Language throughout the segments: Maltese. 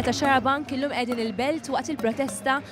ta' Xarabank illum qegħdin il-belt waqt il-protesta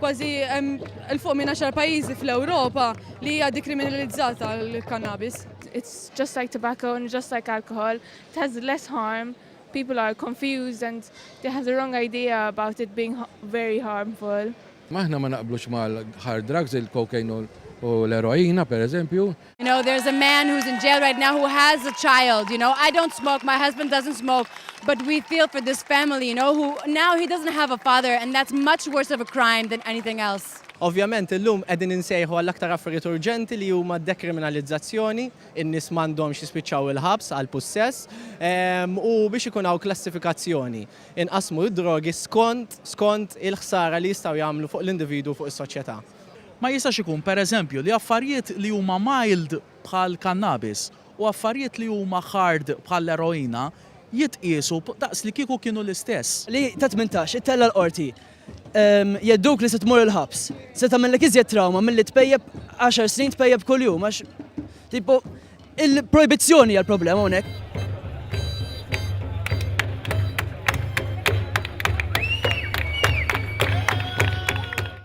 Kważi hemm 'il fuq minn għaxar pajjiżi fl-Ewropa li hija dikriminalizzata l-kannabis. It's just like tobacco and just like alcohol, it has less harm, people are confused and they have the wrong idea about it being very harmful. Aħna ma naqblux mal-hard drugs, il-cocaine u l-eroina, pereżempju, You know there's a man who's in jail right now who has a child you know I don't smoke my husband doesn't smoke but we feel for this family you know who now he doesn't have a father and that's much worse of a crime than anything else. Ovvjament illum qegħdin insejħu għal aktar affarijiet urġenti li huma d-dekriminalizzazzjoni, in-nies m'għandhomx jispiċċaw il-ħabs għal pussess, u biex ikun hawn klassifikazzjoni, inqassmu d-drogi skont skont il-ħsara li jistgħu jagħmlu fuq l-individwu u fuq is-soċjetà. Ma jistax ikun, per eżempju, li affarijiet li huma mild bħall-kannabis u affarijiet li huma hard bħall-eroina jitqiesu daqs li kieku kienu l-istess. Li ta' tmintax, ittella' l-Qorti. Jghedduk li se tmur il-ħabs. Se tagħmellek iżjed trawma milli tpejjep għaxar snin tpejjep kuljum għax tipo il-projbizzjoni hija l-problema hawnhekk.